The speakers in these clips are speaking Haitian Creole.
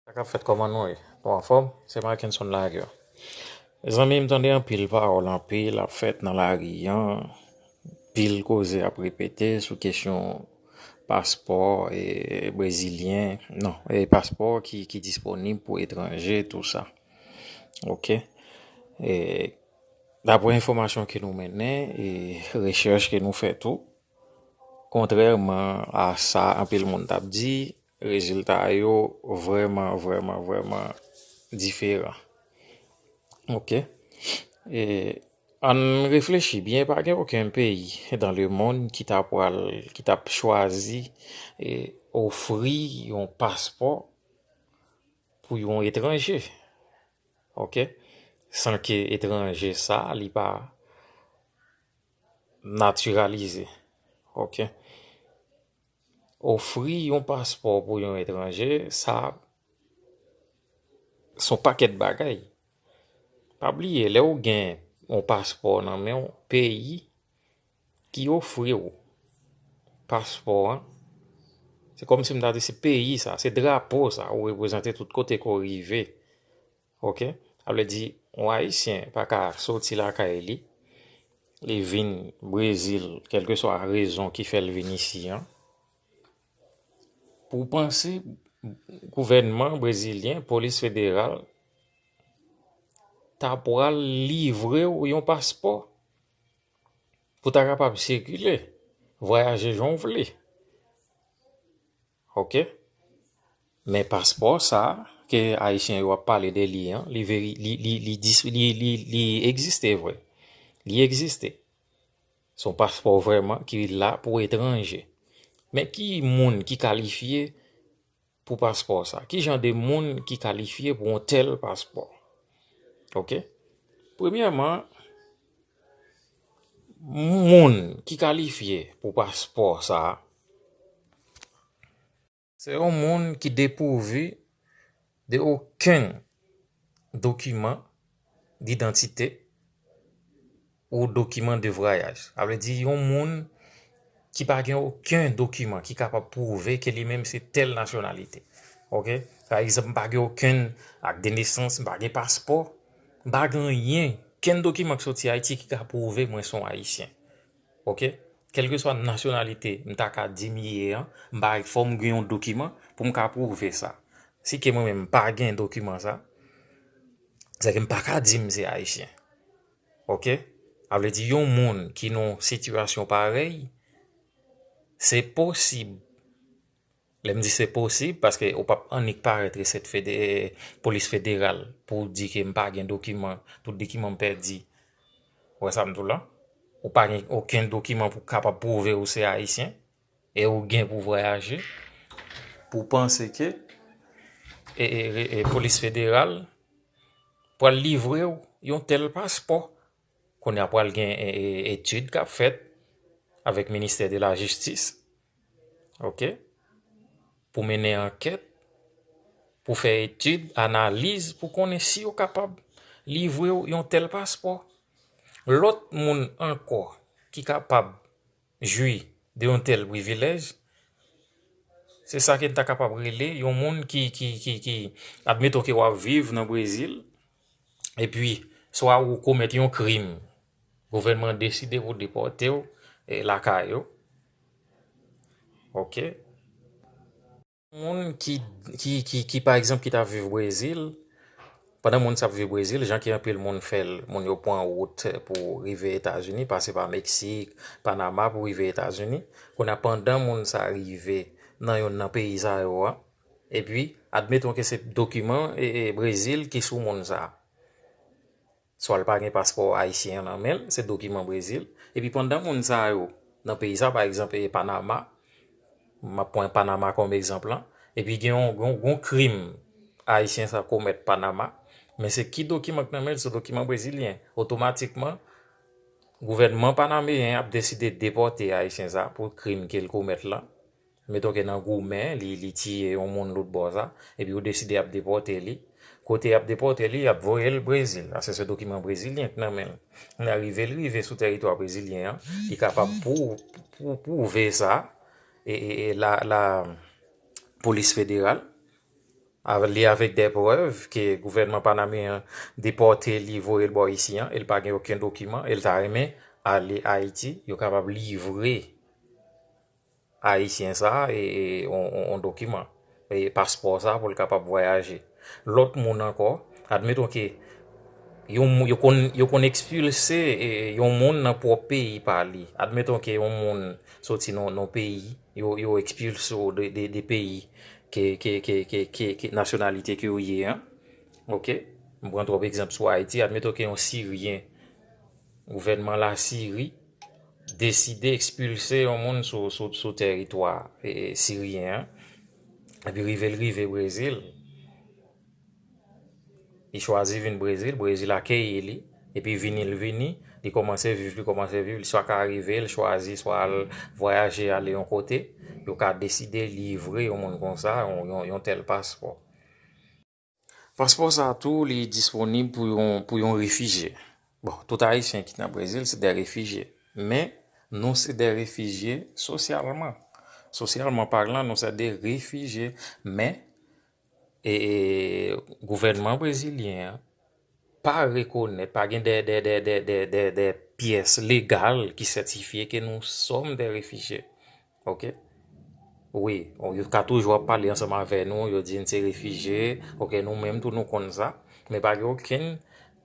Sa kap fèt kòman nou ye nou anfòm se Marckenson Lagueur mezanmi m tande anpil pawòl anpil ap fèt nan lari an anpil koze ap repete sou kesyon paspò brezilyen non paspò ki disponib pou etranje tou sa ok daprè enfòmasyon ke nou mennen e rechèch ke nou fè tou kontrèman a sa anpil moun tap di Rezilta yo vrèman, vrèman, vrèman diferan. Ok. E ann reflechi byen, pa gen oken peyi dan le monn ki ta pwal, ki ta p chwazi e ofri yon paspò pou yon etranje. Ok. San ke etranje sa a li pa natiralize. Ok. Ofri yon paspò pou yon etranje sa son pakèt bagay. Pa bliye lè ou gen yon paspò nan men ou peyi ki ofri ou paspò an se kòm si m ta di se peyi sa se drapo sa ou reprezante tout kote ke w rive. Ok sa vle di yon ayisyen pa ka soti lakay li li vin brezil kelkeswa rezon ki fèl vin isi an pou panse gouvènman brezilyen polis federal ta pral livrew yon paspò pou ta kapab sikile vwayaje jan w vle. Ok men paspò sa ke ayisyen yo ap pale de li an li veri li egziste vre li egziste son paspò vreman ki la pou etranje men ki moun ki kalifye pou paspò sa ki jan de moun ki kalifye pou yon tèl paspò ok premyèman Moun ki kalifye pou paspò sa a, se yon moun ki depouvi de okenn dokiman didantite ou dokiman de vwayaj. Sa vle di yon moun ki pa gen okenn dokiman ki kapab pwouve ke li menm se tèl nasyonalite. Ok? Pa egzanp, m pa gen okenn ak de nesans, m pa gen paspò. M pa gen anyen, kenn dokiman k soti Ayiti ki ka pwouve mwen se yon Ayisyen. Ok. Kèlkeswa nasyonalite m ta ka di m ye an, m pa gen, fò m gen yon dokiman pou m ka pwouve sa. Si ke mwen menm m pa gen dokiman sa, se ke m pa ka di m se Ayisyen. Ok. Sa vle di yon moun ki nan yon sitiyasyon parèy, se posib Lè m di se posib, paske ou pap annik parèt resèt polis federal pou w di ke m pa gen dokiman, tout dokiman m pèdi. Ou wè sa m di w la? Ou pa gen okenn dokiman pou kapab pwouve ou se Ayisyen e ou gen pou vwayaje pou w panse ke polis federal pral livre w yon tèl paspò. Kounye a pral gen etid k ap fèt avèk ministè de la jistis. ok, pou mennen ankèt, pou fè etid, analiz, pou konnen si yo kapab livre ou yon tèl paspò. Lòt moun ankò ki kapab jwi de yon tèl privilèj, se sa ke n ta kapab rele yon moun ki, admeton ke w ap viv nan Brezil, epi swa ou komèt yon krim Gouvènman deside pou depòte w lakay ou ok. Moun ki pa egzanp ki ta viv brezil pandan moun sa ap viv brezil jan ki anpil moun fè l moun yo pran wout pou rive etazini pase pa meksik panama pou rive etazini kounye a pandan moun sa rive nan youn nan peyi sa yo a epi admeton ke se dokiman brezil ki sou moun sa. Swa l pa gen paspò ayisyen an nan men l, se dokiman Brezil. Epi pandan moun sa yo nan peyi sa, pa egzanp e Panama, m ap pran Panama kòm egzanp lan, epi gen yon krim ayisyen sa komèt Panama, men se ki dokiman ki nan men l, se dokiman brezilyen. Otomatikman, gouvènman panameyen an ap deside depòte ayisyen sa pou krim ke l komèt lan. Meton ke nan goumen li li tiye yon moun lout bò sa, epi yo deside yap depòte li, kote yap depòte li yap voye l Brezil, paske se dokiman brezilyen k nan men l. Kounye a rive l rive sou teritwa brezilyen an, li kapab pou pou pwouve sa e e la la polis federal avè li avèk dè prèv ke gouvènman panameyen an depòte li voye l bò isi an e l pa gen oken dokiman e l ta renmen ale Ayiti, yo kapab livre. Ayisyen sa yon dokiman, paspò sa pou l kapab vwayaje. Lòt moun ankò, admeton ke yo konn ekspilse yon moun nan pwòp peyi pa li. Admeton ke yon moun soti nan yon peyi, yo ekspilse ou de peyi ke nasyonalite ke ou ye an. Ok, m pran twòp egzanp sou Ayiti. Admeton ke yon siryen. Gouvènman Lasiri deside ekspilse yon moun sou teritwa siryen an, epi rive l rive Brezil, li chwazi vin Brezil, Brezil akeyi li, epi vini l vini, li kòmanse viv, li kòmanse viv, li swa ka rive l chwazi swa al vwayaje ale yon kote, yo ka deside livre yon moun konsa yon tèl paspò. Paspò sa tou li disponib pou yon refijye. Bon, tout Ayisyen ki nan Brezil se de refijye. Men, nou se de refijye sosyalman. Sosyalman palan, nou se de refijye. Men, e gouvènman brezilyen an. pa rekonèt, pa gen dè, dè, dè, dè, dè, dè, dè pyès legal ki sètifye ke nou sòm dè refijye. Ok. Wi, yo ka toujou ap pale ansanm avè nou, yo di n se refijye, ok, nou menm tou nou konn sa, men pa gen okenn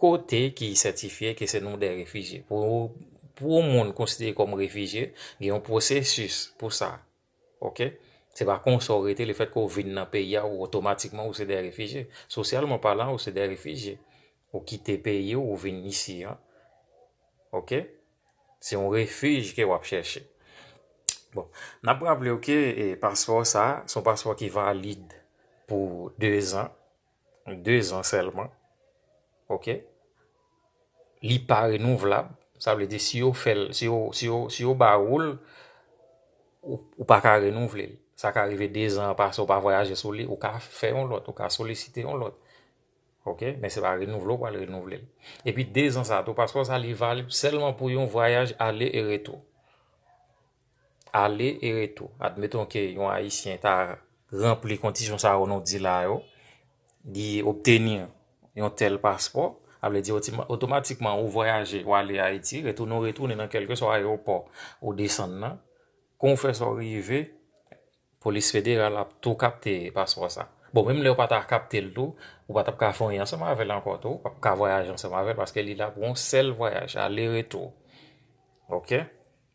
kote ki sètifye ke se nou dè refijye. Pou yon moun konsidere kòm refijye, gen yon pwosesis pou sa. Ok. Se pa konsa ou rete, lefètke ou vin nan peyi a, ou otomatikman ou se de refijye. Sosyalman palan, ou se de refijye. Ou kite peyi ou, ou vin isi an. Ok. Se yon refij ke w ap chèche. Bon, n ap raple ou ke paspò sa, se yon paspò ki valid pou 2 zan. 2 zan sèlman ok li pa renouvlab sa vle di si yo fèl si yo si yo si yo ba woul ou pa ka renouvle l sa ka rive 2 zan an pase ou pa vwayaje sou li ou ka fè yon lòt ou ka solisite yon lòt ok men se pa renouvle ou pral renouvle l epi 2 zan sa tou paspò sa li valib sèlman pou yon vwayaj ale e retou. ale e retou. Admeton ke yon Ayisyen ta ranpli kondisyon sa yo nou di la yo, li obteni yon tèl paspò, sa vle di otomatikman ou vwayaje, ou ale Ayiti, retounen ou retounen nan kèlkeswa ayewopò ou desann nan, kon ou fè sa ou rive, polis federal ap tou kapte paspò sa. Bon, menm lè yo pa ta kapte l tou, ou pa t ap ka fè anyen ansanm avè l ankò tou, ou pa p ka vwayaje ansanm avè l paske li la pou yon sèl vwayaj, ale retou. Ok.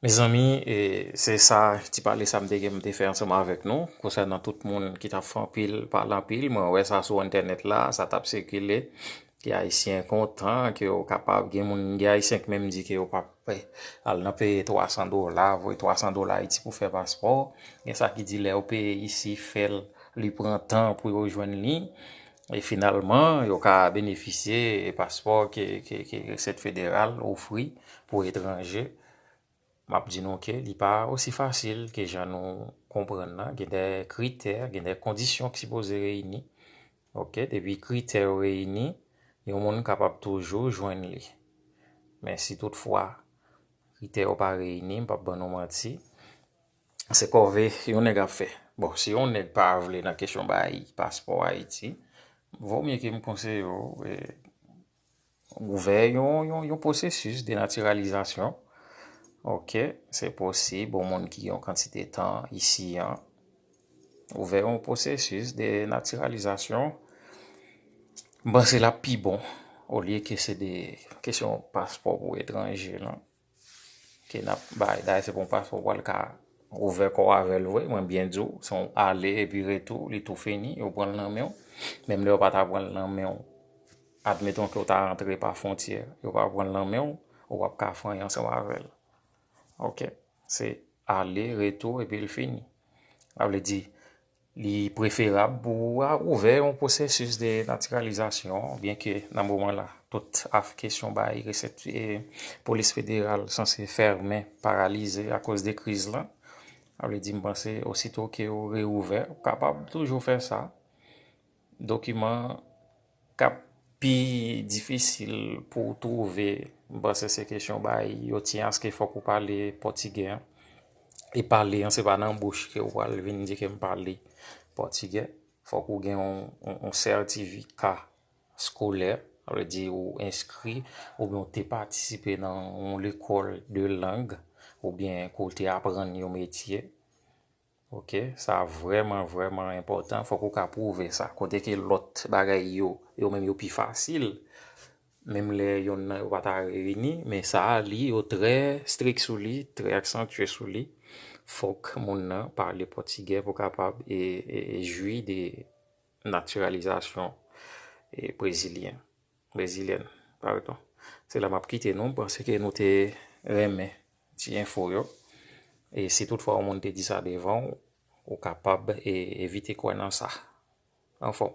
Mezanmi, se sa ti pale sa m te gen m te fè ansanm avèk nou konsènan tout moun ki t ap fè anpil, pale anpil. Mwen wè sa sou entènèt la, sa t ap sikile. Ke Ayisyen kontan, ke yo kapab gen moun, gen Ayisyen ki menm di ke yo pa p al nan peye 300 dola, voye 300 dola Ayiti pou fè paspò. Gen sa ki di lè yo peye isi, fè l, li pran tan pou yo jwenn li. E finalman, yo ka benefisye paspò ke Resèt Federal ofri pou etranje. M ap di nou ke li pa osi fasil ke jan nou konprann nan. Gen dè kritè, gen dè kondisyon ki sipoze reyini. Ok, depi kritè yo reyini, yon moun kapab toujou jwenn li. Men si tout fwa kritè yo pa reyini, m p ap ban nou manti, Se kòve yon nèg ap fè. Bon, si yon nèg pa vle nan kesyon bay paspò Ayiti, vo mye ke m konseye w ouvè yon pwosesis denatiralizasyon. Ok, se posib yon moun ki gen yon kantite tan isi an ouvè yon pwosesis denatiralizasyon. M panse l ap pi bon olye ke se de kesyon paspò pou etranje lan. Ke nap bay, dayè se pa yon paspò ou pral ka ouvè kòw avèl vre, mwen byen diw, se yon ale epi retou, li tou fini, yo pranl nan menw, menm lè yo pa ta pranl nan menw, admeton ke ou ta rantre pa fontyè, yo pa pranl nan menw, ou ap ka fany ansanm avèl. Ok, se ale, retou, epi li fini. Sa vle di. Li preferab pou ou a ouvè yon pwosesis de natiralizasyon, byenke nan moman la tout af kesyon bay resèt polis federal sanse fèmen, paralize akoz de kriz la. Sa vle di m panse ositou ke ou reouvè, ou kapab toujou fè sa. Dokiman k ap pi difisil pou w twouve, m panse se kesyon bay yo ti aske fòk ou pale pòtigè an. E pale an se pa nan bouch ke ou pral vin di ke m pale pòtigè. Fòk ou gen yon sètifika skolè, sa vle di ou enskri oubyen ou te patisipe nan yon lekòl de lang oubyen ke w te aprann yon metye. Ok sa vrèman vrèman enpòtan fòk ou ka pwouve sa kote ke lòt bagay yo yo menm yo pi fasil menm lè yonn nan yo pa ta reyini men sa a li yo trè strik sou li trè aksantye sou li fòk moun nan pale pòtigè pou kapab e jwi de natiralizasyon brezilyen. Brezilyen pardon. Se la map kite nou, panse ke nou te renmen ti enfo yo. E si tout fwa yon moun te di sa devan ou, ou kapab evite kwè nan sa. Anfòm.